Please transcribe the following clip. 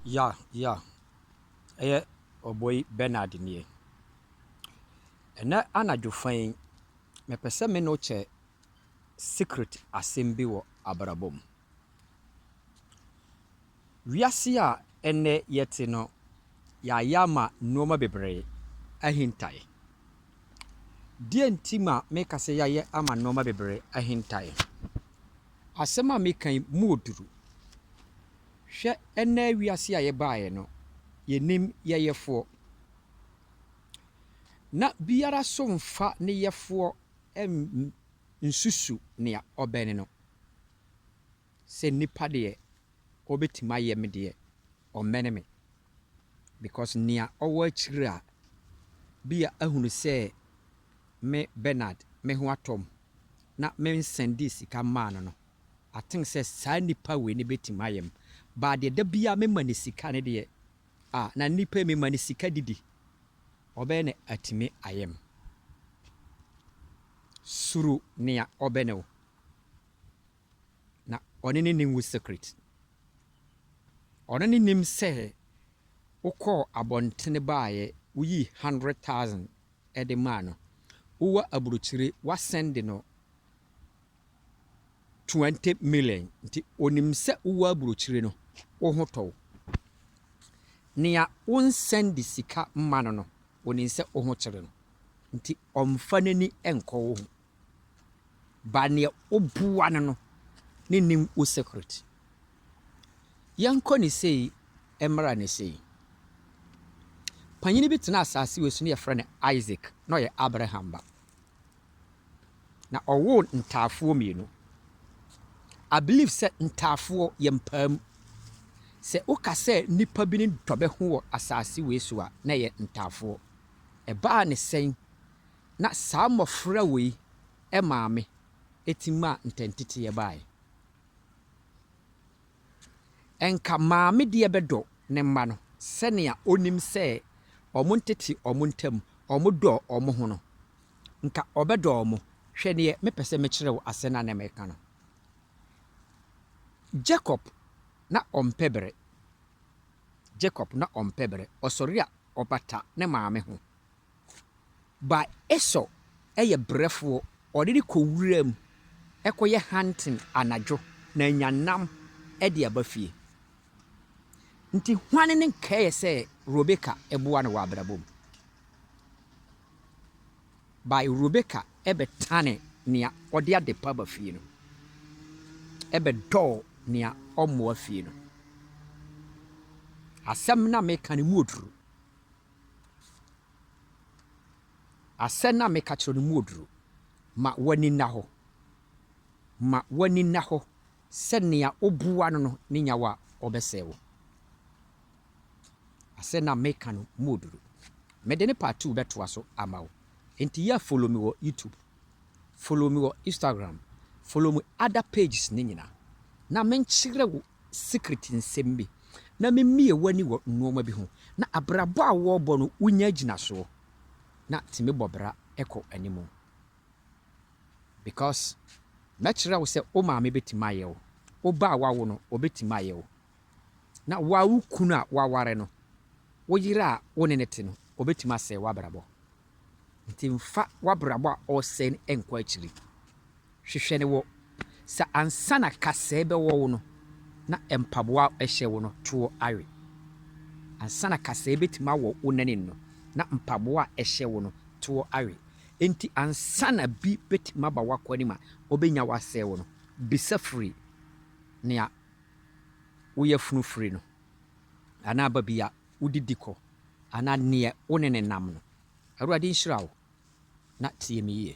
Ya, ya, ɛyɛ ɔbɔyi Bernard nie. Ɛnɛ anadwo fa yi, mepɛ sɛ me ne wo kyɛ secret asɛm bi wɔ abrabɔ mu. Wiase a ɛnɛ yɛte no, yɛayɛ ama nneɛma bebree ahintae. Deɛ nti ma meka sɛ yɛayɛ ama nneɛma bebree ahintae, asɛm a meka yi mu ɔduru. Hwɛ ɛnnɛ wiase a yɛbaeɛ no, yɛnnim yɛ yɛfoɔ. Na biara so mfa ne yɛfoɔ nsusu nea ɔbɛne no. Sɛ nnipa deɛ ɔbɛtumi ayɛ me deɛ, ɔmmɛne me. Because nea ɔwɔ akyire a bia ahunu sɛ me Bernard me ho atɔ me na mensɛndee sika mmaa no no, I think sɛ saa nipa wei no bɛtumi ayɛ me but deɛ da biara mema no sika no deɛ ah na nipa yi mema no sika didi ɔbɛyɛ na atumi ayɛ me suro nea ɔbɛ ne wo na ɔne ne nim wo secret ɔno ne nim sɛ wokɔɔ abɔntene baayɛ woyii hundred thousand ɛde maa no wowɔ aburokyire woasɛnde no twenty million nti onim sɛ wowɔ aburokyire no wo ho tɔ wo. Nea wo nsɛnde sika mma no no onim sɛ wo ho kyere no nti ɔmfa n'ani nkɔ wo ho. Ba nea woboa no no ne nim wo secret. Yɛnkɔ ne sei mmra ne sei. Panyini bi tenaa asaase wei so na yɛfrɛ no Isaac na ɔyɛ Abraham ba. na ɔwoo ntaafoɔ mmienu. I believe sɛ ntaafoɔ yɛ mpaa mu. Sɛ woka sɛ nnipa bi ne dɔ bɛ ho wɔ asaase wei so a, na ɛyɛ ntaafoɔ. Ɛbaa ne sɛn na saa mmɔfra wei maame ɛtumi maa ntɛnteteɛ baaɛ? Anka maame deɛ bɛdɔ ne mma no sɛnea ɔnim sɛ wɔntete wɔn ntam, wɔdɔ wɔn ho no, anka ɔbɛdɔ wɔn. Hwɛ deɛ mepɛ sɛ mekyerɛ wo asɛm no a na mereka no. Jacob na ɔmpɛ bere. Jacob na ɔmpɛ bere. Ɔsɔre a, ɔbata ne maame ho. But Esau yɛ brɛfoɔ, ɔde no kɔ wuram kɔyɛ hunting anadwo na anya nam de aba fie. Nti hwan ne nkɛɛ sɛ Rebeka boa no wɔ abrabɔ mu? But Rebeka bɛtane nea ɔde adepa ba fie no, bɛdɔɔ nea ɔmmoa fie no. Asɛm no a meka no mu ɔduru. Asɛn a meka kyerɛ no mu oduru. Ma w'ani nna hɔ. Ma w'ani nna hɔ sɛ nea obua no no ne nyaw a ɔbɛsɛe wo. Asɛn a meka no mu oduru. Mede ne part two bɛtoa so ama wo. Enti yɛ follow me wɔ YouTube, follow me wɔ Instagram, follow me other pages no nyinaa na menkyerɛ wo secret nsɛm bi na mimie w'ani wɔ nnoɔma bi ho na abrabɔ a woɔbɔ no wonya agyinasoɔ na tumi bɔ bra kɔ anim because mɛkyerɛ wo sɛ wo maame bɛtumi ayɛ wo, wo ba a wawo no ɔbɛtumi ayɛ wo na wo ara wo kunu a waware no wo yere a wo ne no te no ɔbɛtumi asɛe w'abrabɔ nti mfa w'abrabɔ a ɔresɛe no nkɔ akyiri. Hwehwɛ no wɔ sɛ ansa na kasɛɛ bɛwɔ wo no na mpaboa a ɛhyɛ wo no toɔ awe. Ansa na kasɛɛ bɛtumi awɔ wo nanim no na mpaboa a ɛhyɛ wo no toɔ awe. Enti ansa na bi bɛtumi aba w'akwanem a ɔbɛnya wo asɛe wo no, bisa firi nea wo yafunu firi no anaa baabi a wode di kɔ anaa neɛ wo ne no nam no. Awurade nhyira wo na tie me yie.